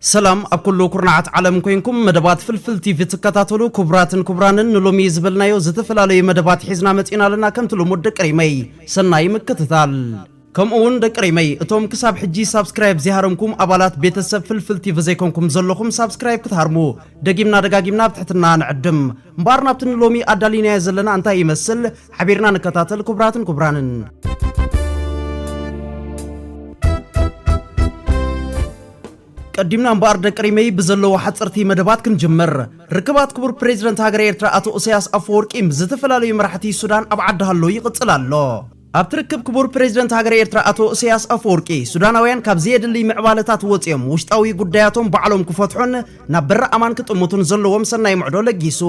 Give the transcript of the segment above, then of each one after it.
ሰላም ኣብ ኩሉ ኩርናዓት ዓለም ኮይንኩም መደባት ፍልፍል ቲቪ ትከታተሉ ኩቡራትን ኩቡራንን ንሎሚ ዝበልናዮ ዝተፈላለዩ መደባት ሒዝና መጺና ኣለና ከምቲ ልሙድ ደቂ ሪመይ ሰናይ ምክትታል ከምኡ ውን ደቂ ሪመይ እቶም ክሳብ ሕጂ ሳብስክራይብ ዘይሃረምኩም ኣባላት ቤተሰብ ፍልፍል ቲቪ ዘይኮንኩም ዘለኹም ሳብስክራይብ ክትሃርሙ ደጊምና ደጋጊምና ብትሕትና ንዕድም እምበኣር ናብቲ ንሎሚ ኣዳሊናዮ ዘለና እንታይ ይመስል ሓቢርና ንከታተል ኩቡራትን ኩቡራንን ቀዲምና እምበኣር ደቂ ሪመይ ብዘለዎ ሓጸርቲ መደባት ክንጅምር። ርክባት ክቡር ፕሬዚደንት ሃገረ ኤርትራ ኣቶ እሰያስ ኣፈወርቂ ምስ ዝተፈላለዩ መራሕቲ ሱዳን ኣብ ዓዲ ሃሎ ይቕጽል ኣሎ። ኣብቲ ርክብ ክቡር ፕሬዚደንት ሃገረ ኤርትራ ኣቶ እሰያስ ኣፈወርቂ፣ ሱዳናውያን ካብ ዘየድሊ ምዕባለታት ወጺኦም ውሽጣዊ ጉዳያቶም ባዕሎም ክፈትሑን ናብ በሪ ኣማን ክጥምቱን ዘለዎም ሰናይ ምዕዶ ለጊሱ።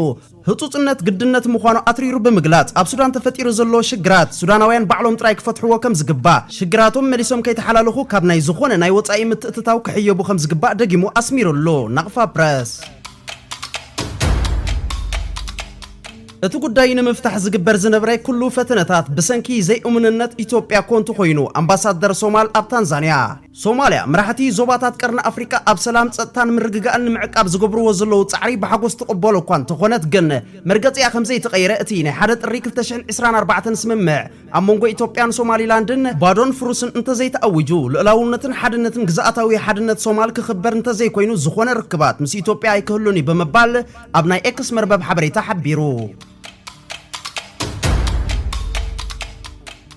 ህጹጽነት ግድነት ምዃኑ ኣትሪሩ ብምግላጽ፣ ኣብ ሱዳን ተፈጢሩ ዘሎ ሽግራት፣ ሱዳናውያን ባዕሎም ጥራይ ክፈትሕዎ ከም ዝግባእ፣ ሽግራቶም መሊሶም ከይተሓላለኹ ካብ ናይ ዝኾነ ናይ ወጻኢ ምትእትታው ክሕየቡ ከም ዝግባእ ደጊሙ ኣስሚሩሉ። ናቕፋ ፕረስ። እቲ ጉዳይ ንምፍታሕ ዝግበር ዝነብረ ኩሉ ፈተነታት ብሰንኪ ዘይእሙንነት ኢትዮጵያ ኮንቱ ኮይኑ፣ ኣምባሳደር ሶማል ኣብ ታንዛንያ። ሶማልያ፣ መራሕቲ ዞባታት ቀርኒ ኣፍሪቃ ኣብ ሰላም፣ ጸጥታን ምርግጋእን ንምዕቃብ ዝገብርዎ ዘለዉ ጻዕሪ ብሓጎስ ትቕበሎ እኳ እንተኾነት ግን፣ መርገጺኣ ከምዘይተቐየረ እቲ ናይ ሓደ ጥሪ ክልተ ሽሕን ዕስራን ኣርባዕተን ስምምዕ ኣብ መንጎ ኢትዮጵያን ሶማሊላንድን ባዶን ፍሩስን እንተዘይተኣዊጁ፣ ልኡላውነትን ሓድነትን ግዝኣታዊ ሓድነት ሶማል ክኽበር እንተዘይኮይኑ ዝኾነ ርክባት ምስ ኢትዮጵያ ኣይክህሉን'ዩ ብምባል ኣብ ናይ ኤክስ መርበብ ሓበሬታ ሓቢሩ።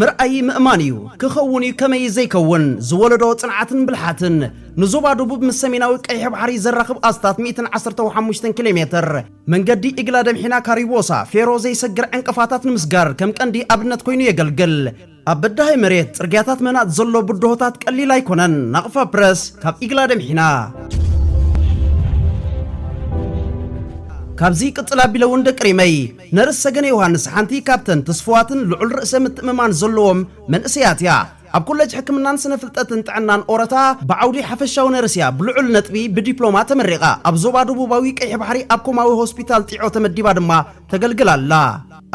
ምርኣይ ምእማን እዩ፣ ክኸውን እዩ ከመይ ዘይከውን፣ ዝወለዶ ጽንዓትን ብልሓትን፣ ንዞባ ደቡብ ምስ ሰሜናዊ ቀይሕ ባሕሪ ዘራኽብ ኣስታት ሚእትን ዓሰርተው ሓሙሽተን ኪሌ ሜትር መንገዲ ኢግላደምሒና ካሪዎሳ ፌሮ ዘይሰግር ዕንቅፋታት ንምስጋር ከም ቀንዲ ኣብነት ኮይኑ የገልግል። ኣብ በዳሂ መሬት ጽርግያታት ምህናጽ ዘሎ ብድሆታት ቀሊል ኣይኮነን፣ ናቕፋ ፕረስ ካብ ኢግላደምሒና። ካብዚ ይቅጽል ኣቢለ ውን ደቂ ሪመይ። ነርስ ሰገነ ዮሃንስ ሓንቲ ካብተን ትስፉዋትን ልዑል ርእሰ ምትእምማን ዘለዎም መንእሰያት እያ። ኣብ ኮለጅ ሕክምናን ስነ ፍልጠትን ጥዕናን ኦረታ ብዓውዲ ሓፈሻዊ ነርስ እያ ብልዑል ነጥቢ ብዲፕሎማ ተመሪቓ። ኣብ ዞባ ደቡባዊ ቀይሒ ባሕሪ ኣብ ኮማዊ ሆስፒታል ጢዖ ተመዲባ ድማ ተገልግል ኣላ።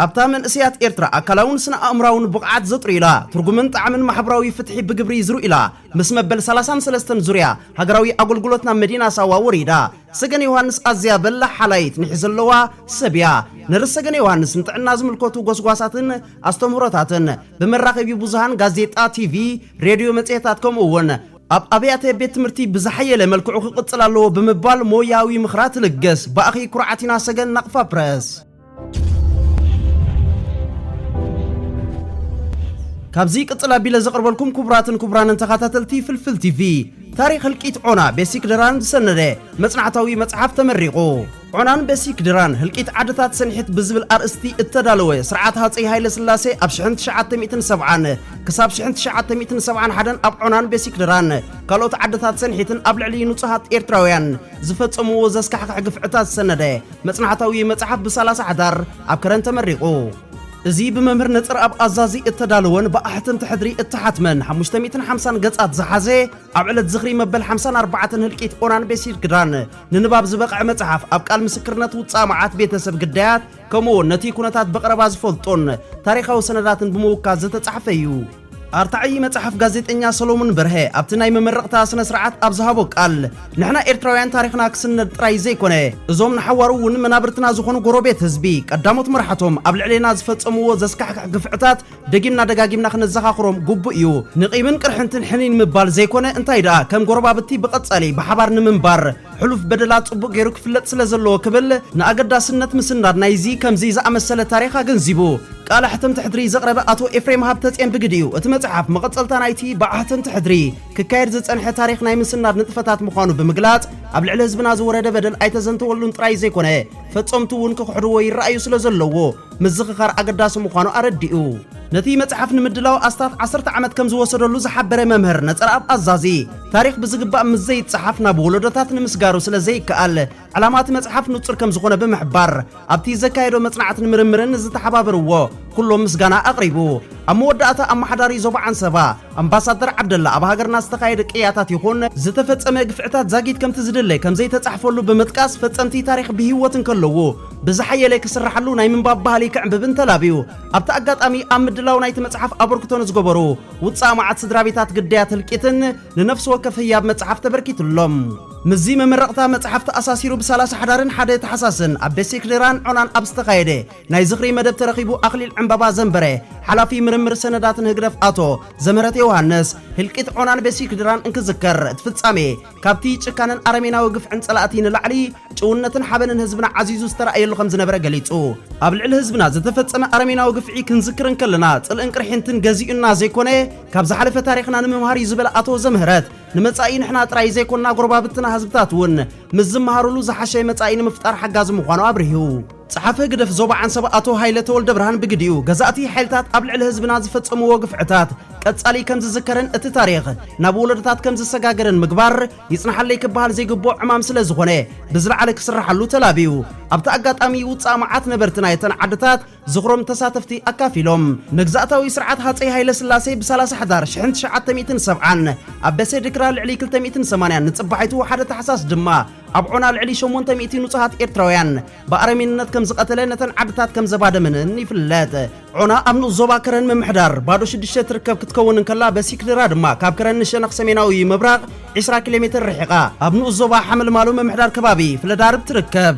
ኣብታ መንእሰያት ኤርትራ ኣካላውን ስነ ኣእምራውን ብቕዓት ዘጥርዩላ፣ ትርጉምን ጣዕምን ማሕብራዊ ፍትሒ ብግብሪ ዝርእዩላ፣ ምስ መበል ሰላሳን ሰለስተን ዙርያ ሃገራዊ ኣጎልጉሎት ናብ መዲና ሳዋ ወሪዳ፣ ሰገን ዮሃንስ ኣዝያ በላሕ ሓላይት ኒሕ ዘለዋ ሰብ እያ። ነርስ ሰገን ዮሃንስ ንጥዕና ዝምልከቱ ጎስጓሳትን ኣስተምህሮታትን ብመራኸቢ ብዙሃን ጋዜጣ፣ ቲቪ፣ ሬድዮ፣ መጽሔታት ከምኡ እውን ኣብ ኣብያተ ቤት ትምህርቲ ብዝሓየለ መልክዑ ክቕጽል ኣለዎ ብምባል ሞያዊ ምኽራ ትልግስ። ብኣኺ ኩርዓት ኢና ሰገን ናቕፋ ፕረስ። ካብዚ ቅጽል ኣቢለ ዘቕርበልኩም ክቡራትን ክቡራንን ተኸታተልቲ ፍልፍል ቲቪ ታሪኽ ህልቂት ዖና ቤሲክ ድራን ዝሰነደ መጽናዕታዊ መጽሓፍ ተመሪቑ። ዖናን ቤሲክ ድራን ህልቂት ዓድታት ሰንሒት ብዝብል ኣርእስቲ እተዳለወ ስርዓት ሃፀይ ሃይለ ስላሴ ኣብ 1970 ክሳብ 1971 ኣብ ዖናን ቤሲክ ድራን ካልኦት ዓድታት ሰንሒትን ኣብ ልዕሊ ንጹሃት ኤርትራውያን ዝፈጸምዎ ዘስካሕክሕ ግፍዕታት ዝሰነደ መጽናዕታዊ መጽሓፍ ብሳላሳ ሓዳር ኣብ ከረን ተመሪቑ። እዚ ብመምህር ነጽርኣብ ኣዛዚ እተዳለወን ብኣሕተምቲ ሕድሪ እተሓትመን ሓሙሽተ ሚእትን ሓምሳን ገጻት ዝሓዘ ኣብ ዕለት ዝኽሪ መበል ሓምሳን ኣርባዕተን ህልቂት ኦናን ቤሲርግዳን ንንባብ ዝበቕዐ መጽሓፍ ኣብ ቃል ምስክርነት ውጻእ መዓት ቤተሰብ ግዳያት ከምኡውን ነቲ ኩነታት ብቐረባ ዝፈልጡን ታሪኻዊ ሰነዳትን ብምውካስ ዝተጻሕፈ እዩ። ኣርታዒ መጽሓፍ ጋዜጠኛ ሰሎሙን በርሀ ኣብቲ ናይ መመረቕታ ስነ ስርዓት ኣብ ዝሃቦ ቃል ንሕና ኤርትራውያን ታሪኽና ክስነድ ጥራይ ዘይኮነ እዞም ንሓዋሩ እውን መናብርትና ዝኾኑ ጎረቤት ህዝቢ ቀዳሞት መራሕቶም ኣብ ልዕሌና ዝፈጸምዎ ዘስካሕክሕ ግፍዕታት ደጊምና ደጋጊምና ክነዘኻኽሮም ግቡእ እዩ ንቂምን ቅርሕንትን ሕኒን ምባል ዘይኮነ እንታይ ደኣ ከም ጎረባብቲ ብቐጻሊ ብሓባር ንምንባር ሕሉፍ በደላ ጽቡቕ ገይሩ ክፍለጥ ስለ ዘለዎ ክብል ንኣገዳስነት ምስናድ ናይዚ ከምዚ ዝኣመሰለ ታሪኽ ኣገንዚቡ። ቃለ ሕትምቲ ሕድሪ ዘቕረበ ኣቶ ኤፍሬም ሃብተጼን ብግዲኡ፣ እቲ መጽሓፍ መቐጸልታ ናይቲ ብዓ ሕትምቲ ሕድሪ ክካየድ ዝጸንሐ ታሪኽ ናይ ምስናድ ንጥፈታት ምዃኑ ብምግላጽ፣ ኣብ ልዕሊ ህዝብና ዝወረደ በደል ኣይተዘንተወሉን ጥራይ ዘይኮነ፣ ፈጸምቱ እውን ክኽሕድዎ ይረኣዩ ስለ ዘለዉ፣ ምዝኽኻር ኣገዳሲ ምዃኑ ኣረዲኡ። ነቲ መጽሓፍ ንምድላው ኣስታት ዓሰርተ ዓመት ከም ዝወሰደሉ ዝሓበረ መምህር ነጸረኣብ ኣዛዚ፣ ታሪኽ ብዝግባእ ምስ ዘይጸሓፍ ናብ ወለዶታት ንምስጋሩ ስለ ዘይከኣል፣ ዕላማ እቲ መጽሓፍ ንጹር ከም ዝዀነ ብምሕባር፣ ኣብቲ ዘካየዶ መጽናዕትን ምርምርን ንዝተሓባበርዎ ኵሎም ምስጋና ኣቕሪቡ። ኣብ መወዳእታ ኣመሓዳሪ ዞባ ዓንሰባ ኣምባሳደር ዓብደላ ኣብ ሃገርና ዝተኻየደ ቅያታት ይዅን ዝተፈጸመ ግፍዕታት ዛጊት ከምቲ ዝድለ ከም ዘይተጻሕፈሉ ብምጥቃስ ፈጸምቲ ታሪኽ ብህይወት እንከለዉ ብዝሓየለ ክስራሓሉ ናይ ምንባብ ባህሊ ክዕምብብን ተላብዩ። ኣብቲ ኣጋጣሚ ኣብ ምድላው ናይቲ መጽሓፍ ኣበርክቶ ንዝገበሩ ውጻእ መዓት ስድራቤታት ግዳያት ህልቂትን ንነፍሲ ወከፍ ህያብ መጽሓፍ ተበርኪትሎም። ምስዚ መመረቕታ መጽሓፍ ተኣሳሲሩ ብሳላሳ ሓዳርን ሓደ ታሕሳስን ኣብ ደሴ ክድራን ዖናን ኣብ ዝተኻየደ ናይ ዝኽሪ መደብ ተረኺቡ ኣኽሊል ዕምባባ ዘንበረ ሓላፊ ምርምር ሰነዳት ንህግደፍ ኣቶ ዘምህረት ዮውሃንስ ህልቂት ዖናን በሴ ክድራን እንክዝከር እቲ ፍጻሜ ካብቲ ጭካነን ኣረሜናዊ ግፍዕን ጸላእቲ ንላዕሊ ጭውነትን ሓበንን ህዝብና ዓዚዙ ዝተራእየሉ ከም ዝነበረ ገሊጹ። ኣብ ልዕሊ ህዝብና ዝተፈጸመ ኣረሜናዊ ግፍዒ ክንዝክር እንከለና ጽልእን ቅርሕንትን ገዚኡና ዘይኮነ ካብ ዝሓለፈ ታሪኽና ንምምሃር እዩ ዝበለ ኣቶ ዘምህረት፣ ንመጻኢ ንሕና ጥራይ ዘይኮንና ጎረባብትና ህዝብታት እውን ምስ ዝመሃሩሉ ዝሓሸ መጻኢ ንምፍጣር ሓጋዚ ምዃኑ ኣብሪሁ። ጸሓፊ ህግደፍ ዞባ ዓንሰባ ኣቶ ሃይለ ተወልደብርሃን ብግዲኡ፣ ገዛእቲ ሓይልታት ኣብ ልዕሊ ህዝብና ዝፈጸምዎ ግፍዕታት ቀጻሊ ከም ዝዝከርን እቲ ታሪኽ ናብ ወለዶታት ከም ዝሰጋገርን ምግባር ይጽናሓለይ ክበሃል ዘይግብኦ ዕማም ስለ ዝኾነ ብዝለዓለ ክስራሓሉ ተላብዩ። ኣብቲ ኣጋጣሚ ውጻእ መዓት ነበርቲ ናይ'ተን ዓድታት ዝኽሮም ንተሳተፍቲ ኣካፊሎም። መግዛእታዊ ስርዓት ሃጸይ ሃይለስላሴ ብ ሰላሳ ሕዳር ሽሕን ትሽዓተ ሚእትን ሰብዓን ኣብ ደሴ ድክራ ልዕሊ ክልተ ሚእትን ሰማንያን ንጽባሒቱ ሓደ ታሕሳስ ድማ ኣብ ዖና ልዕሊ ሸሞንተ ሚእቲ ንጹሃት ኤርትራውያን ብኣረሜንነት ከም ዝቐተለ ነተን ዓድታት ከም ዘባደመንን ይፍለጥ። ዖና ኣብ ንኡስ ዞባ ከረን ምምሕዳር ባዶ ሽዱሽተ ትርከብ ክትከውን እንከላ በሲክድራ ድማ ካብ ከረን ንሸነኽ ሰሜናዊ ምብራቕ ዒስራ ኪሎሜተር ርሒቓ ኣብ ንኡስ ዞባ ሓመልማሎ ምምሕዳር ከባቢ ፍለዳርብ ትርከብ።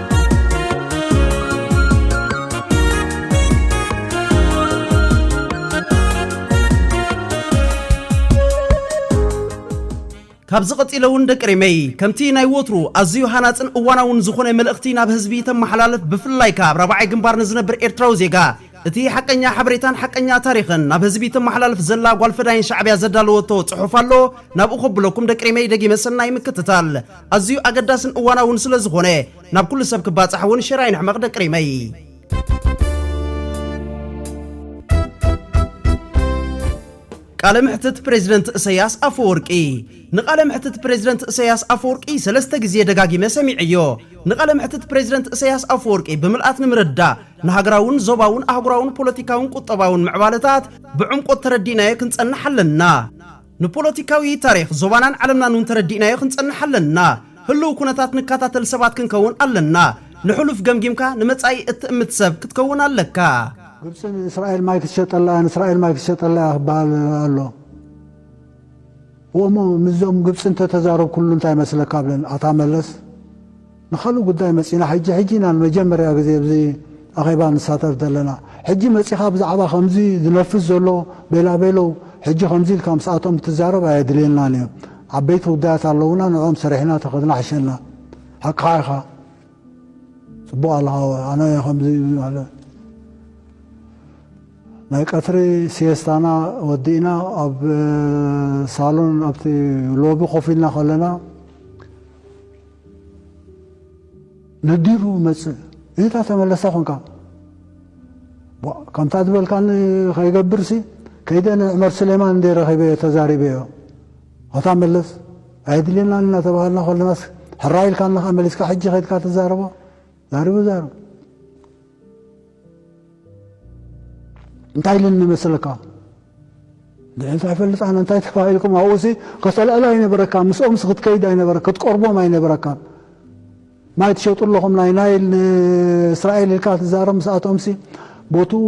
ካብዚ ቀጺለ እውን ደቂ ሪመይ ከምቲ ናይ ወትሩ ኣዝዩ ሃናጽን እዋናውን ዝኾነ መልእኽቲ ናብ ህዝቢ ተመሓላልፍ ብፍላይ ካብ ራብዓይ ግንባር ንዝነብር ኤርትራዊ ዜጋ እቲ ሓቀኛ ሓበሬታን ሓቀኛ ታሪኽን ናብ ህዝቢ ተመሓላልፍ ዘላ ጓል ፈዳይን ሻዕብያ ዘዳለወቶ ጽሑፍ ኣሎ ናብኡ ከብለኩም ደቂ ሪመይ ደጊመ ሰናይ ምክትታል ኣዝዩ ኣገዳስን እዋናውን ስለ ዝኾነ ናብ ኩሉ ሰብ ክባጻሕ እውን ሸር ኣይንሕመቕ ደቂ ሪመይ። ቃለ መሕትት ፕሬዚደንት እሰያስ ኣፈወርቂ ንቃለ መሕትት ፕሬዚደንት እሰያስ ኣፈወርቂ ሰለስተ ግዜ ደጋጊመ ሰሚዐዮ። ንቃለ መሕትት ፕሬዚደንት እሰያስ ኣፈወርቂ ብምልኣት ንምርዳእ ንሃገራውን ዞባውን ኣህጉራውን ፖለቲካውን ቁጠባውን ምዕባለታት ብዕምቆት ተረዲእናዮ ክንጸንሕ ኣለና። ንፖለቲካዊ ታሪኽ ዞባናን ዓለምናን እውን ተረዲእናዮ ክንጸንሕ ኣለና። ህሉው ኩነታት ንካታተል ሰባት ክንከውን ኣለና። ንሕሉፍ ገምጊምካ ንመጻኢ እትእምት ሰብ ክትከውን ኣለካ። ግብጺ ንእስራኤል ማይ ክትሸጠላ እያ ንእስራኤል ማይ ክትሸጠላ እያ ክበሃል ኣሎ እሞ ምስዞም ግብጺ እንተተዛረብኩሉ እንታይ ይመስለካ ብለን ኣታ መለስ። ንኻልእ ጉዳይ መጺና ሕጂ ሕጂ ኢና ንመጀመርያ ግዜ ኣብዚ ኣኼባ ንሳተፍ ዘለና። ሕጂ መጺኻ ብዛዕባ ከምዚ ዝነፍስ ዘሎ ቤላቤሎ ሕጂ ከምዚ ኢልካ ምስኣቶም ክትዛረብ ኣየድልየናን እዩ። ዓበይቲ ጉዳያት ኣለዉና ንዕኦም ሰሪሕና ተኸድና ሕሸና። ሓቅኻ ኢኻ። ጽቡቕ ኣለኻ ኣነ ከምዚ ማለት ናይ ቀትሪ ሲየስታና ወዲእና ኣብ ሳሎን ኣብቲ ሎቢ ኮፍ ኢልና ከለና ነዲሩ መጽእ እታ ተመለሳ ኮንካ ቧእ ከምታ ዝበልካኒ ከይገብርሲ ከይደ ንዑመር ስሌማን እንዴ ረኺበዮ ተዛሪበዮ ሆታ መለስ ኣየድልየናን ኢና ተባሃልና ኮለናስ ሕራይ ኢልካና ከኣ መሊስካ ሕጂ ከድካ ትዛረቦ ዛሪቡ ዛርብ እንታይ ኢለኒ መሰለካ ንዕንት ኣይፈልጣን እንታይ ተባሂልኩም ኣብኡሲ ከጸላእላ ኣይነበረካ ምስኦምስ ክትከይድ ኣይነበረ ክትቀርቦም ኣይነበረካ ማይ ትሸጡ ኣለኹም ናይ ናይል ንእስራኤል ኢልካ ትዛረብ ምስኣቶምሲ ቦትኡ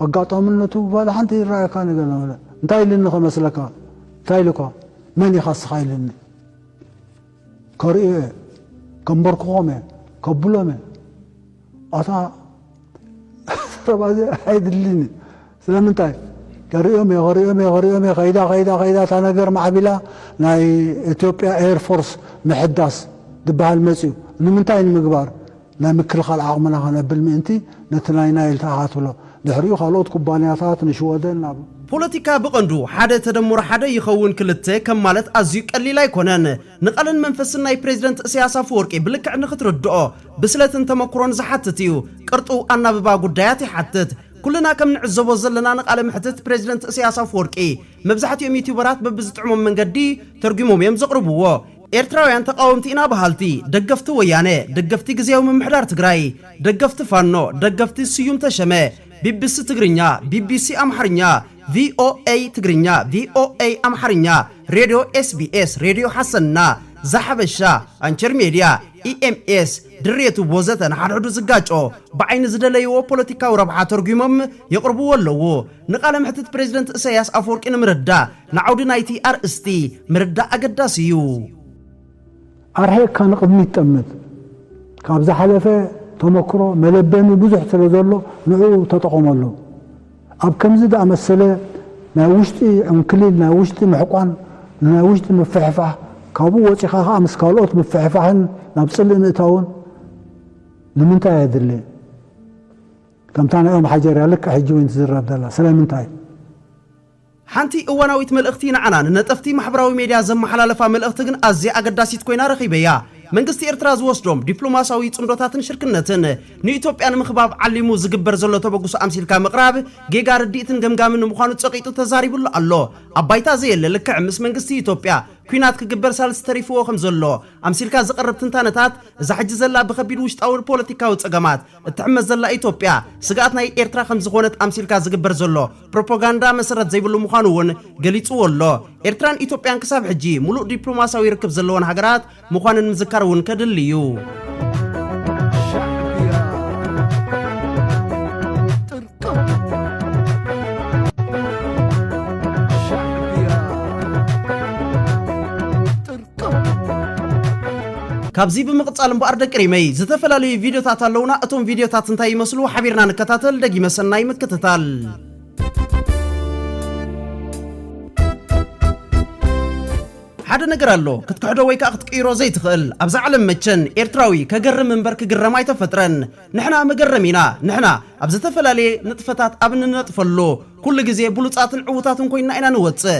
ኣጋጣምነቱ ባላ ሓንቲ ይረኣየካ ነገር ነበረ እንታይ ኢልኒ ከመስለካ እንታይ ኢልኳ መን ኢኻ ስኻ ኢልኒ ከርእዮ እየ ከምበርክኾም እየ ከብሎም እየ ኣታ ዘረባ እዚ ኣይድልን እዩ ስለምንታይ ከሪኦም እየ ከሪኦም እየ ከሪኦም እየ ከይዳ ከይዳ ከይዳ እታ ነገር ማዕቢላ ናይ ኢትዮጵያ ኤርፎርስ ምሕዳስ ዝበሃል መፅዩ ንምንታይ ንምግባር ናይ ምክልኻል ዓቕምና ከነብል ምእንቲ ነቲ ናይ ናይል ተኣኻትብሎ ድሕሪኡ ካልኦት ኩባንያታት ንሽወደን ናብ ፖለቲካ ብቐንዱ ሓደ ተደምሮ ሓደ ይኸውን ክልተ ከም ማለት ኣዝዩ ቀሊል ኣይኮነን። ንቓልን መንፈስን ናይ ፕሬዚደንት እሰያስ ኣፈወርቂ ብልክዕ ንኽትርድኦ፣ ብስለትን ተመኩሮን ዝሓትት እዩ። ቅርጡው ኣናብባ ጉዳያት ይሓትት። ኩልና ከም ንዕዘቦ ዘለና ንቃለ መሕትት ፕረዚደንት እሰያስ ኣፍወርቂ መብዛሕቲኦም ዩትዩበራት በብዝጥዕሞም መንገዲ ተርጉሞም እዮም ዘቕርብዎ። ኤርትራውያን ተቓወምቲ ኢና በሃልቲ፣ ደገፍቲ ወያነ፣ ደገፍቲ ግዝያዊ ምምሕዳር ትግራይ፣ ደገፍቲ ፋኖ፣ ደገፍቲ ስዩም ተሸመ፣ ቢቢሲ ትግርኛ፣ ቢቢሲ ኣምሓርኛ፣ VOA ትግርኛ፣ VOA ኣምሓርኛ፣ ሬድዮ SBS፣ ሬድዮ ሓሰና፣ ዛሓበሻ፣ ኣንቸር ሜድያ፣ EMS፣ ድርየቱ ወዘተ ንሓድሕዱ ዝጋጮ፣ ብዓይኒ ዝደለይዎ ፖለቲካዊ ረብሓ ተርጒሞም የቕርብዎ ኣለዉ። ንቃለ መሕትት ፕረዚደንት እሰያስ ኣፈወርቂ ንምርዳእ፣ ንዓውዲ ናይቲ ኣርእስቲ ምርዳእ ኣገዳሲ እዩ። ኣርሒቕካ ንቕድሚት ጠምት። ካብ ዝሓለፈ ተመክሮ መለበሚ ብዙሕ ስለዘሎ ንዕኡ ተጠቐመሉ። ኣብ ከምዚ ዝኣመሰለ ናይ ውሽጢ ዕንክሊል፣ ናይ ውሽጢ ምሕቋን፣ ንናይ ውሽጢ ምፍሕፋሕ፣ ካብኡ ወጺኻ ከኣ ምስ ካልኦት ምፍሕፋሕን ናብ ጽልኢ ምእታውን ንምንታይ ኣድሊ? ከምታ ናይ ኦም ሓጀርያ ልክዕ ሕጂ ውን ትዝረብ ዘላ ስለምንታይ? ሓንቲ እዋናዊት መልእኽቲ ንዓና ንነጠፍቲ ማሕበራዊ ሜድያ ዘመሓላለፋ መልእኽቲ ግን ኣዝያ ኣገዳሲት ኮይና ረኺበያ። መንግስቲ ኤርትራ ዝወስዶም ዲፕሎማስያዊ ጽምዶታትን ሽርክነትን ንኢትዮጵያ ንምኽባብ ዓሊሙ ዝግበር ዘሎ ተበግሶ ኣምሲልካ ምቕራብ ጌጋ ርድኢትን ገምጋምን ምዃኑ ጸቒጡ ተዛሪብሉ ኣሎ። ኣብ ባይታ ዘየለ ልክዕ ምስ መንግስቲ ኢትዮጵያ ኲናት ክግበር ሳልስ ተሪፍዎ ከምዘሎ ኣምሲልካ ዝቐርብ ትንታነታት እዛ ሕጂ ዘላ ብከቢድ ውሽጣዊ ፖለቲካዊ ጸገማት እትሕመስ ዘላ ኢትዮጵያ ስግኣት ናይ ኤርትራ ከም ዝኾነት ኣምሲልካ ዝግበር ዘሎ ፕሮፖጋንዳ መሰረት ዘይብሉ ምዃኑ እውን ገሊጽዎ ኣሎ። ኤርትራን ኢትዮጵያን ክሳብ ሕጂ ምሉእ ዲፕሎማስያዊ ርክብ ዘለወን ሃገራት ምዃነን ምዝካር እውን ከድሊ እዩ። ካብዚ ብምቕጻል እምበኣር ደቂ ሪመይ ዝተፈላለዩ ቪድዮታት ኣለዉና እቶም ቪድዮታት እንታይ ይመስሉ ሓቢርና ንከታተል ደጊመ ሰናይ ምክትታል ሓደ ነገር ኣሎ ክትክሕዶ ወይ ከዓ ክትቅይሮ ዘይትኽእል ኣብዛ ዓለም መቸን ኤርትራዊ ከገርም እምበር ክግረም ኣይተፈጥረን ንሕና መገረም ኢና ንሕና ኣብ ዝተፈላለየ ንጥፈታት ኣብ እንነጥፈሉ ኩሉ ግዜ ብሉፃትን ዕዉታትን ኮይንና ኢና ንወፅእ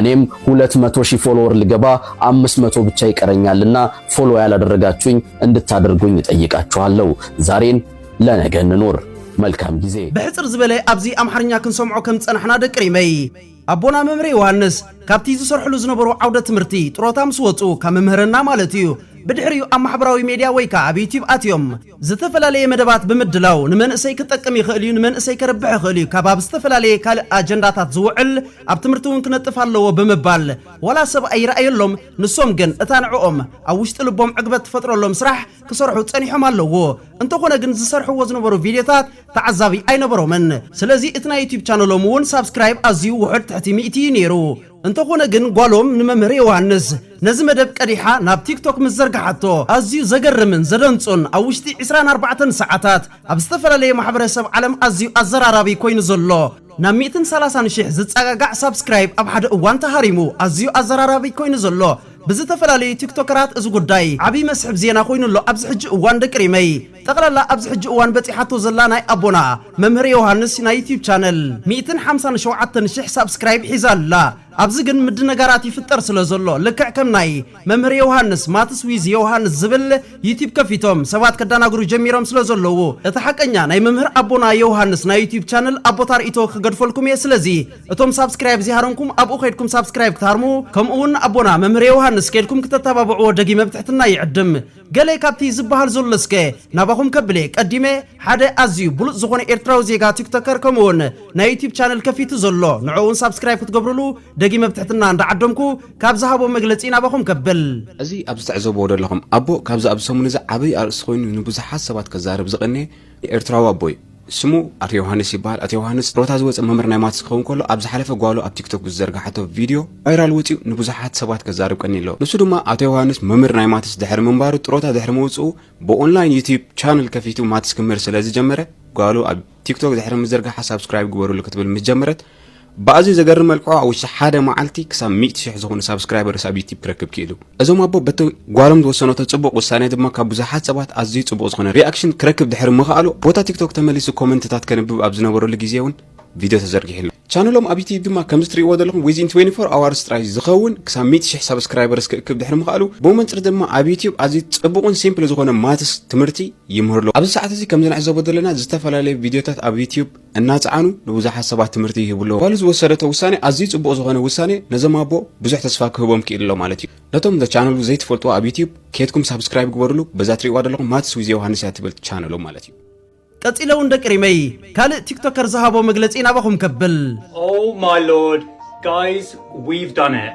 እኔም ሁለት መቶ ሺህ ፎሎወር ልገባ አምስት መቶ ብቻ ይቀረኛልና ፎሎ ያላደረጋችሁኝ እንድታደርጉኝ እጠይቃችኋለሁ። ዛሬን ለነገ እንኑር። መልካም ጊዜ። ብሕጽር ዝበለ ኣብዚ ኣምሓርኛ ክንሰምዖ ከም ዝጸናሕና ደቂ ሪመይ ኣቦና መምህር ዮሃንስ ካብቲ ዝሰርሕሉ ዝነበሩ ዓውደ ትምህርቲ ጥሮታ ምስ ወጹ ካብ መምህርና ማለት እዩ ብድሕሪኡ ኣብ ማሕበራዊ ሜድያ ወይ ከዓ ኣብ ዩቲዩብ ኣትዮም ዝተፈላለየ መደባት ብምድላው ንመንእሰይ ክጠቅም ይኽእል እዩ፣ ንመንእሰይ ከርብሕ ይኽእል እዩ፣ ካብ ኣብ ዝተፈላለየ ካልእ ኣጀንዳታት ዝውዕል ኣብ ትምህርቲ እውን ክነጥፍ ኣለዎ ብምባል ዋላ ሰብ ኣይርኣየሎም ንሶም ግን እታ ንዕኦም ኣብ ውሽጢ ልቦም ዕግበት ትፈጥረሎም ስራሕ ክሰርሑ ጸኒሖም ኣለዉ። እንተኾነ ግን ዝሰርሕዎ ዝነበሩ ቪድዮታት ተዓዛቢ ኣይነበሮምን። ስለዚ እቲ ናይ ዩቱብ ቻነሎም እውን ሳብስክራይብ ኣዝዩ ውሑድ ትሕቲ ሚእቲ እዩ ነይሩ። እንተኾነ ግን ጓሎም ንመምህር ዮውሃንስ ነዚ መደብ ቀዲሓ ናብ ቲክቶክ ምስ ዘርግሓቶ ኣዝዩ ዘገርምን ዘደንጹን ኣብ ውሽጢ ዕስራን ኣርባዕተን ሰዓታት ኣብ ዝተፈላለየ ማሕበረሰብ ዓለም ኣዝዩ ኣዘራራቢ ኮይኑ ዘሎ ናብ ሚእትን ሰላሳን ሽሕ ዝጸጋጋዕ ሳብስክራይብ ኣብ ሓደ እዋን ተሃሪሙ ኣዝዩ ኣዘራራቢ ኮይኑ ዘሎ ብዝተፈላለዩ ቲክቶከራት እዚ ጉዳይ ዓቢ መስሕብ ዜና ኮይኑ ኣሎ ኣብዚ ሕጂ እዋን ደቂ ሪመይ። ጠቕላላ ኣብዚ ሕጂ እዋን በጺሓቶ ዘላ ናይ ኣቦና መምህር ዮውሃንስ ናይ ዩትዩብ ቻነል ሚእትን ሓምሳን ሸውዓተን ሽሕ ሳብስክራይብ ሒዛ ኣላ። ኣብዚ ግን ምድንጋራት ይፍጠር ስለ ዘሎ ልክዕ ከም ናይ መምህር ዮውሃንስ ማትስ ዊዝ ዮውሃንስ ዝብል ዩትዩብ ከፊቶም ሰባት ከዳናግሩ ጀሚሮም ስለ ዘለዉ እቲ ሓቀኛ ናይ መምህር ኣቦና ዮውሃንስ ናይ ዩትዩብ ቻነል ኣቦታ ርእይቶ ክገድፈልኩም እየ ስለዚ እቶም ሳብስክራይብ ዘይሃረምኩም ኣብኡ ከይድኩም ሳብስክራይብ ክትሃርሙ ከምኡ ውን ኣቦና መምህር ዮውሃንስ ከይድኩም ክተተባብዕዎ ደጊመ ብትሕትና ይዕድም። ገለ ካብቲ ዝበሃል ዘሎ እስከ ናባኹም ከብል'የ ቀዲመ ሓደ ኣዝዩ ብሉጽ ዝኾነ ኤርትራዊ ዜጋ ቲክቶከር ከምኡ'ውን ናይ ዩቱብ ቻነል ከፊቱ ዘሎ ንዕኡ'ውን ሳብስክራይብ ክትገብሩሉ ደጊመ ብትሕትና እንዳዓደምኩ ካብ ዝሃቦ መግለጺ ናባኹም ከብል። እዚ ኣብዚ ትዕዘብዎ ደለኹም ኣቦ ካብዚ ኣብዚ ሰሙን እዚ ዓቢ ኣርእስቲ ኮይኑ ንብዙሓት ሰባት ከዛርብ ዝቐነየ ኤርትራዊ ኣቦይ ስሙ ኣቶ ዮሃንስ ይበሃል። ኣቶ ዮሃንስ ጥሮታ ዝወጸ መምህር ናይ ማትስ ክኸውን ከሎ ኣብ ዝሓለፈ ጓሉ ኣብ ቲክቶክ ብዝዘርግሓቶ ቪድዮ ቫይራል ወጺኡ ንብዙሓት ሰባት ከዛርብ ቀኒ ኣሎ። ንሱ ድማ ኣቶ ዮሃንስ መምህር ናይ ማትስ ድሕሪ ምንባሩ ጥሮታ ድሕሪ ምውጽኡ ብኦንላይን ዩትዩብ ቻነል ከፊቱ ማትስ ክምህር ስለ ዝጀመረ ጓሉ ኣብ ቲክቶክ ድሕሪ ምዝርግሓ ሳብስክራይብ ግበሩሉ ክትብል ምስ ጀመረት ብኣዝዩ ዘገርም መልክዑ ኣብ ውሽጢ ሓደ መዓልቲ ክሳብ ሚእቲ ሽሕ ዝኾኑ ሳብስክራይበርስ ኣብ ዩቲብ ክረክብ ክኢሉ። እዞም ኣቦ በቲ ጓሎም ዝወሰነቶ ጽቡቕ ውሳኔ ድማ ካብ ብዙሓት ሰባት ኣዝዩ ጽቡቕ ዝኾነ ሪኣክሽን ክረክብ ድሕሪ ምኽኣሉ ቦታ ቲክቶክ ተመሊሱ ኮመንትታት ከንብብ ኣብ ዝነበረሉ ግዜ እውን ቪድዮ ተዘርጊሕሉ። ቻነሎም ኣብ ዩቲብ ድማ ከምዚ ትርእይዎ ዘለኹም ዊዝን 24 ኣዋርስ ጥራይ ዝኸውን ክሳብ ሚእቲ ሽሕ ሳብስክራይበርስ ክእክብ ድሕሪ ምኽኣሉ ብመንጽር ድማ ኣብ ዩቲብ ኣዝዩ ጽቡቕን ሲምፕል ዝኾነ ማትስ ትምህርቲ ይምህርሉ። ኣብዚ ሰዓት እዚ ከምዚ ንዕዘቦ ዘለና ዝተፈላለዩ ቪድዮታት ኣብ ዩቲብ እናጸዓኑ ንብዙሓት ሰባት ትምህርቲ ይህቡ ኣለዉ። ጓሉ ዝወሰደቶ ውሳኔ ኣዝዩ ጽቡቕ ዝኾነ ውሳኔ ነዞም ኣቦ ብዙሕ ተስፋ ክህቦም ክኢሉ ኣሎ ማለት እዩ። ነቶም እዛ ቻነሉ ዘይትፈልጥዋ ኣብ ዩትዩብ ኬድኩም ሳብስክራይብ ግበርሉ በዛ ትሪእዋ ደለኹም ማትስ ዊዝ ዮውሃንስ እያ ትብል ቻነሎም ማለት እዩ። ቀጺለ ውን ደቂ ሪመይ ካልእ ቲክቶከር ዝሃቦ መግለጺ ናባኹም ከብል። Oh my lord guys we've done it።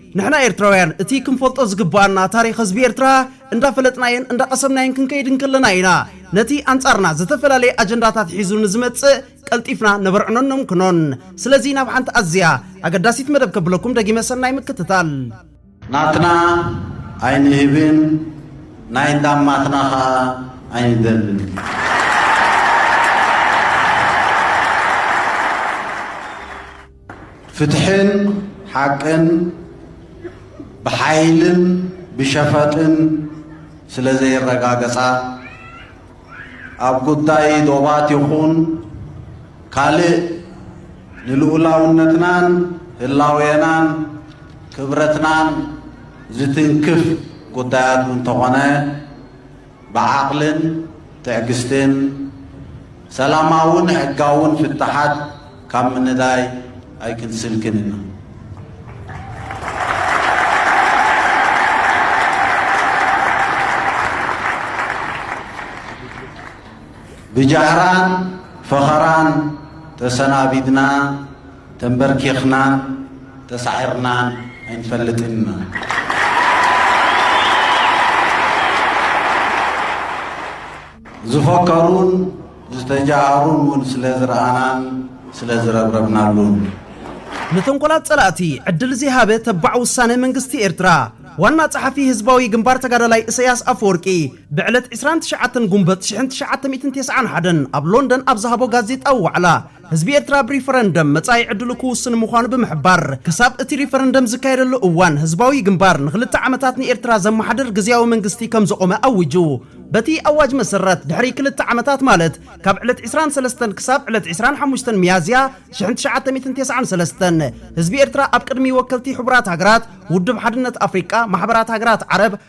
ንሕና ኤርትራውያን እቲ ክንፈልጦ ዝግበኣና ታሪኽ ህዝቢ ኤርትራ እንዳፈለጥናዮን እንዳቐሰምናዮን ክንከይድ እንከለና ኢና ነቲ ኣንጻርና ዝተፈላለየ ኣጀንዳታት ሒዙ ንዝመጽእ ቀልጢፍና ነበርዕኖን ነምክኖን። ስለዚ ናብ ሓንቲ ኣዝያ ኣገዳሲት መደብ ከብለኩም ደጊመ ሰናይ ምክትታል። ናትና ኣይንህብን ናይ እንዳማትና ከኣ ኣይንደልን። ፍትሕን ሓቅን ብሓይልን ብሸፈጥን ስለ ዘይረጋገጻ ኣብ ጉዳይ ዶባት ይኹን ካልእ ንልኡላውነትናን ህላዌናን ክብረትናን ዝትንክፍ ጉዳያት እንተኾነ ብዓቕልን ትዕግስትን ሰላማውን ሕጋውን ፍታሓት ካብ ምንዳይ ኣይክንስንክን ኢና። ብጃህራን ፈኸራን ተሰናቢድና፣ ተምበርኪኽናን ተሳዒርናን ኣይንፈልጥን ኢና። ዝፈከሩን ዝተጃሃሩን እውን ስለ ዝረኣናን ስለ ዝረብረብናሉን። ንተንኮላት ፀላእቲ ዕድል ዘይሃበ ተባዕ ውሳነ መንግስቲ ኤርትራ፣ ዋና ፀሓፊ ህዝባዊ ግንባር ተጋዳላይ እሰያስ ኣፈወርቂ ብዕለት ዕስራን ትሽዓተን ጉንበት ሽሕን ትሽዓተ ሚእትን ቴስዓን ሓደን ኣብ ሎንደን ኣብ ዝሃቦ ጋዜጣዊ ዋዕላ፣ ህዝቢ ኤርትራ ብሪፈረንደም መጻኢ ዕድሉ ክውስን ምዃኑ ብምሕባር፣ ክሳብ እቲ ሪፈረንደም ዝካየደሉ እዋን ህዝባዊ ግንባር ንኽልተ ዓመታት ንኤርትራ ዘመሓድር ግዝያዊ መንግስቲ ከም ዘቖመ ኣዊጁ። በቲ ኣዋጅ መሰረት፣ ድሕሪ ክልተ ዓመታት ማለት ካብ ዕለት ዕስራን ሰለስተን ክሳብ ዕለት ዕስራን ሓሙሽተን ሚያዝያ ሽሕን ትሽዓተ ሚእትን ቴስዓን ሰለስተን፣ ህዝቢ ኤርትራ ኣብ ቅድሚ ወከልቲ ሕቡራት ሃገራት፣ ውድብ ሓድነት ኣፍሪቃ፣ ማሕበራት ሃገራት ዓረብ፣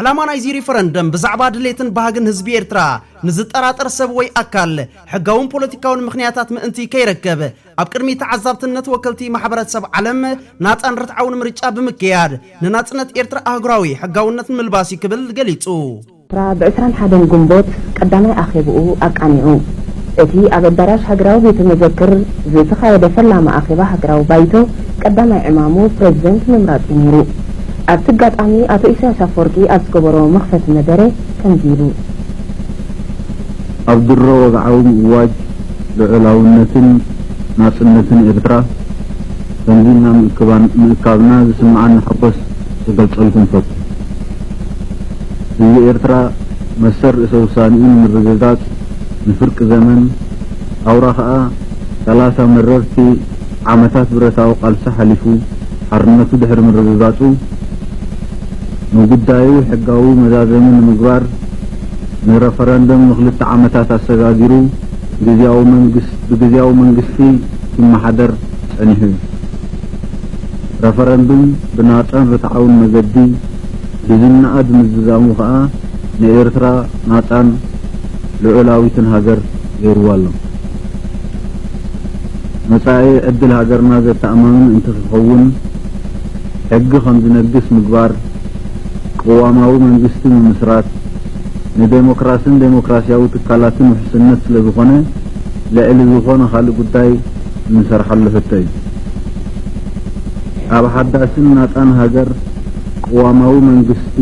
ዕላማ ናይዚ ሪፈረንደም ብዛዕባ ድሌትን ባህግን ህዝቢ ኤርትራ ንዝጠራጠር ሰብ ወይ ኣካል ሕጋውን ፖለቲካውን ምኽንያታት ምእንቲ ከይረከብ ኣብ ቅድሚ ተዓዛብትነት ወከልቲ ማሕበረ ሰብ ዓለም ናጻን ርትዓውን ምርጫ ብምክያድ ንናጽነት ኤርትራ ኣህጉራዊ ሕጋውነት ንምልባስ እዩ ክብል ገሊጹ። ኤርትራ ብ ዕስራን ሓደን ግንቦት ቀዳማይ ኣኼብኡ ኣቃኒዑ። እቲ ኣብ ኣዳራሽ ሃገራዊ ቤተ መዘክር ዝተኻየደ ፈላሚ ኣኼባ ሃገራዊ ባይቶ ቀዳማይ ዕማሙ ፕረዚደንት ምምራጽ'ዩ ነይሩ። ኣብቲ ኣጋጣሚ ኣቶ ኢሳያስ ኣፈወርቂ ኣብ ዝገበሮ መኽፈቲ መደረ ከምዚ ኢሉ። ኣብ ድሮ ወግዓዊ ምእዋጅ ልዑላውነትን ናጽነትን ኤርትራ ከምዚ ኢልና ምእካብና ዝስምዓኒ ሓጎስ ክገልጸልኩም እፈቱ። ህዝቢ ኤርትራ መሰል ርእሰ-ውሳኔኡ ንምርግጋጽ ንፍርቂ ዘመን ኣውራ ከኣ ሰላሳ መረርቲ ዓመታት ብረታዊ ቃልሲ ሓሊፉ፣ ሓርነቱ ድሕሪ ምርግጋጹ፣ ንጉዳዩ ሕጋዊ መዛዘሚ ንምግባር፣ ንረፈረንደም ንክልተ ዓመታት ኣሰጋጊሩ ግዝያዊ መንግስ ብግዝያዊ መንግስቲ ኪመሓደር ጸኒሑ እዩ። ረፈረንድም ብናጻን ርትዓውን መገዲ ብዝነኣድ ምዝዛሙ ከኣ ንኤርትራ ናጻን ልዑላዊትን ሃገር ገይሩዋ ኣሎ። መጻኢ ዕድል ሃገርና ዘተኣማምን እንተክኸውን ሕጊ ከምዝነግስ ምግባር፣ ቅዋማዊ መንግስቲ ምምስራት ንደሞክራስን ደሞክራሲያዊ ትካላትን ውሕስነት ስለዝኾነ ልዕሊ ዝኾነ ካልእ ጉዳይ እንሰርሓሉ ሕቶ እዩ። ኣብ ሓዳስን ናጻን ሃገር ቅዋማዊ መንግስቲ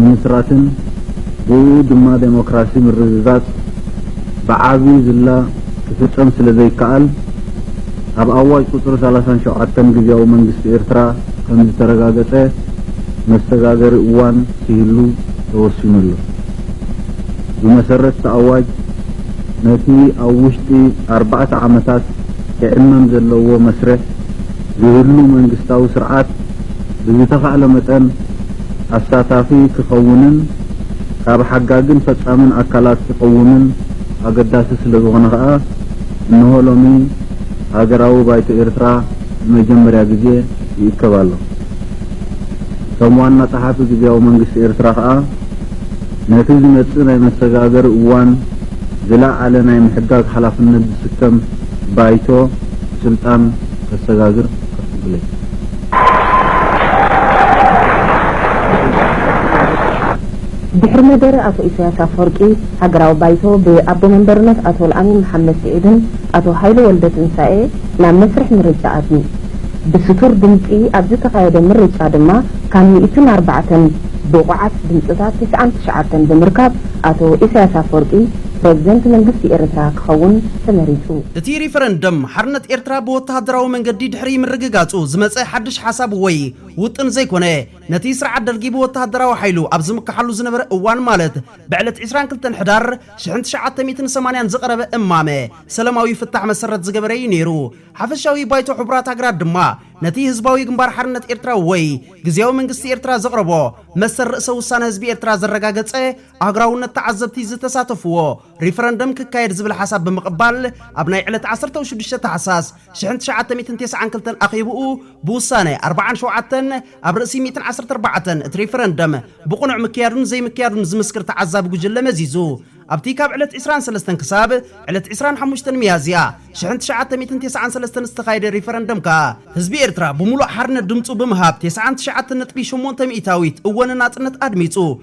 ምምስራትን ብእኡ ድማ ደሞክራሲ ምርግጋጽ፣ ብዓቢ ዝላ ክፍጸም ስለ ዘይከኣል፣ ኣብ ኣዋጅ ቁጽሪ ሰላሳን ሸውዓተን ግዝያዊ መንግስቲ ኤርትራ ከም ዝተረጋገጸ መሰጋገሪ እዋን ክህሉ ተወሲኑ ኣሎ። ብመሰረት'ቲ ኣዋጅ፣ ነቲ ኣብ ውሽጢ ኣርባዕተ ዓመታት ክዕመም ዘለዎ መስርሕ ዝህሉ መንግስታዊ ስርዓት ብዝተኻእለ መጠን፣ ኣሳታፊ ክኸውንን ካብ ሓጋግን ፈጻምን ኣካላት ክቐውምን ኣገዳሲ ስለዝኾነ ከኣ እነሆ ሎሚ ሃገራዊ ባይቶ ኤርትራ ንመጀመርያ ግዜ ይእከብ ኣሎ። ከም ዋና ጸሓፊ ግዝያዊ መንግስቲ ኤርትራ ከኣ ነቲ ዝመጽእ ናይ መሰጋገሪ እዋን ዝለዓለ ናይ ምሕጋግ ሓላፍነት ዝስከም ባይቶ ስልጣን ከሰጋግር ኣፍቅዱለይ። ድሕሪ መደረ ኣቶ ኢሳያስ ኣፍወርቂ፣ ሃገራዊ ባይቶ ብኣቦ መንበርነት ኣቶ ኣልኣሚን መሓመድ ስዒድን ኣቶ ሃይለ ወልደትንሳኤ ናብ መስርሕ ምርጫ ኣትዩ። ብስቱር ድምጺ ኣብ ዝተኻየደ ምርጫ ድማ ካብ ሚእትን ኣርባዕተን ብቑዓት ድምጽታት ትስዓን ትሽዓተን ብምርካብ ኣቶ ኢሳያስ ኣፍወርቂ ፕረዚደንት መንግስቲ ኤርትራ ክኸውን ተመሪጹ። እቲ ሪፈረንደም፣ ሓርነት ኤርትራ ብወተሃደራዊ መንገዲ ድሕሪ ምርግጋጹ ዝመጸ ሓድሽ ሓሳብ ወይ ውጥን ዘይኮነ፣ ነቲ ስርዓት ደርጊ ብወተሃደራዊ ሓይሉ ኣብ ዝምክሓሉ ዝነበረ እዋን ማለት ብዕለት ዕስራን ክልተን ሕዳር ሽሕን ትሽዓተ ሚእትን ሰማንያን ዝቐረበ እማመ ሰለማዊ ፍታሕ መሰረት ዝገበረ እዩ ነይሩ። ሓፈሻዊ ባይቶ ሕቡራት ሃገራት ድማ ነቲ ህዝባዊ ግንባር ሓርነት ኤርትራ ወይ ግዝያዊ መንግስቲ ኤርትራ ዘቕረቦ መሰል ርእሰ ውሳነ ህዝቢ ኤርትራ ዘረጋገጸ ኣህጉራውነት ተዓዘብቲ ዝተሳተፍዎ ሪፈረንደም ክካየድ ዝብል ሓሳብ ብምቕባል ኣብ ናይ ዕለት ዓሰርተው ሽዱሽተ ታሕሳስ ሽሕን ትሽዓተ ሚእትን ቴስዓን ክልተን ኣኼብኡ ብውሳነ ኣርባዓን ሸውዓተን ኣብ ርእሲ ሚእትን ዓሰርተ ኣርባዕተን እቲ ሪፈረንደም ብቕኑዕ ምክያዱን ዘይምክያዱን ዝምስክር ተዓዛቢ ጉጅለ መዚዙ ኣብቲ ካብ ዕለት ዕስራን ሰለስተን ክሳብ ዕለት ዕስራን ሓሙሽተን ሚያዝያ ሽሕን ትሽዓተ ሚእትን ቴስዓን ሰለስተን ዝተኻየደ ሪፈረንደም ከኣ ህዝቢ ኤርትራ ብምሉእ ሓርነት ድምጹ ብምሃብ ቴስዓን ትሽዓተን ነጥቢ ሸሞንተ ሚእታዊት እወ ንናጽነት ኣድሚጹ።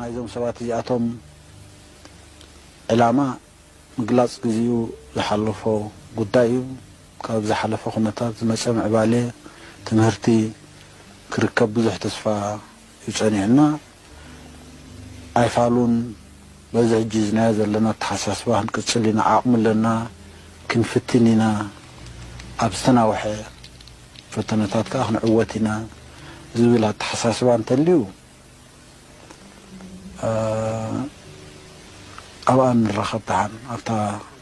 ናይዞም ሰባት እዚኣቶም ዕላማ ምግላፅ ግዚኡ ዝሓለፎ ጉዳይ እዩ። ካብ ዝሓለፈ ኩነታት ዝመፀ ምዕባሌ ትምህርቲ ክርከብ ብዙሕ ተስፋ እዩ ጸኒሑና ኣይፋሉን በዚ ሕጂ ሒዝናዮ ዘለና ኣተሓሳስባ ክንቅጽል ኢና ዓቕሚ ኣለና ክንፍትን ኢና ኣብ ዝተናውሐ ፈተነታት ከኣ ክንዕወት ኢና ዝብል ኣተሓሳስባ እንተልዩ ኣብኣ ንራኸብ ደሓን ኣብታ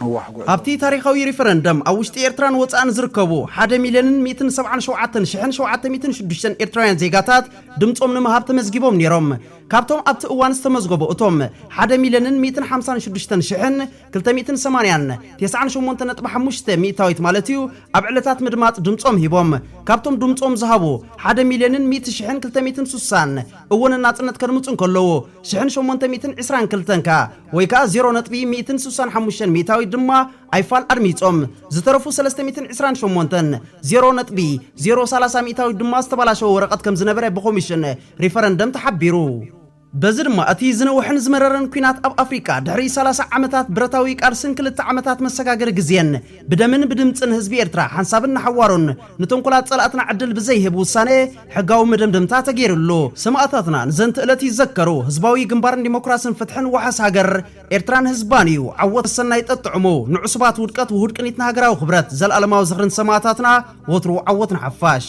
ነዋሕ ጉዕዞ። ኣብቲ ታሪኻዊ ሪፈረንደም ኣብ ውሽጢ ኤርትራን ወጻእን ዝርከቡ ሓደ ሚልዮንን ሚእትን ሰብዓን ሸውዓተን ሽሕን ሸውዓተ ሚእትን ሽዱሽተን ኤርትራውያን ዜጋታት ድምጾም ንምሃብ ተመዝጊቦም ነይሮም። ካብቶም ኣብቲ እዋን ዝተመዝገቡ እቶም ሓደ ሚልዮንን ሚእትን ሓምሳን ሽዱሽተን ሽሕን ክልተ ሚእትን ሰማንያን ቴስዓን ሸሞንተ ነጥቢ ሓሙሽተ ሚእታዊት ማለት'ዩ ኣብ ዕለታት ምድማጽ ድምጾም ሂቦም። ካብቶም ድምጾም ዝሃቡ ሓደ ሚልዮንን ሚእቲ ሽሕን ክልተ ሚእትን ሱሳን እወ ንናጽነት ከድምጹ እንከለዉ ሽሕን ሸሞንተ ሚእትን ዕስራን ክልተን ከኣ ወይ ከኣ ዜሮ ነጥቢ ሚእትን ስሳን ሓሙሽተን ሚእታዊት ድማ ኣይፋል ኣድሚጾም። ዝተረፉ ሰለስተ ሚእትን ዕስራን ሸሞንተን፣ ዜሮ ነጥቢ ዜሮ ሰላሳ ሚእታዊት ድማ ዝተባላሸወ ወረቐት ከም ዝነበረ ብኮሚሽን ሪፈረንደም ተሓቢሩ። በዚ ድማ እቲ ዝነውሐን ዝመረረን ኲናት ኣብ ኣፍሪቃ ድሕሪ ሰላሳ ዓመታት ብረታዊ ቃልስን ክልተ ዓመታት መሰጋገሪ ግዜን ብደምን ብድምጽን ህዝቢ ኤርትራ ሓንሳብን ንሓዋሩን ንተንኮላት ጸላእትና ዕድል ብዘይህብ ውሳኔ ሕጋዊ መደምደምታ ተገይርሉ። ሰማእታትና ንዘንት እለት ይዘከሩ። ህዝባዊ ግንባር ንዲሞክራስን ፍትሕን ዋሕስ ሃገር ኤርትራን ህዝባን እዩ። ዓወት ሰናይ ጠጥዑሙ። ንዑሱባት ውድቀት ውሁድ ቅኒት ንሃገራዊ ክብረት። ዘልኣለማዊ ዝኽሪ ንሰማእታትና። ወትሩ ዓወት ንሓፋሽ።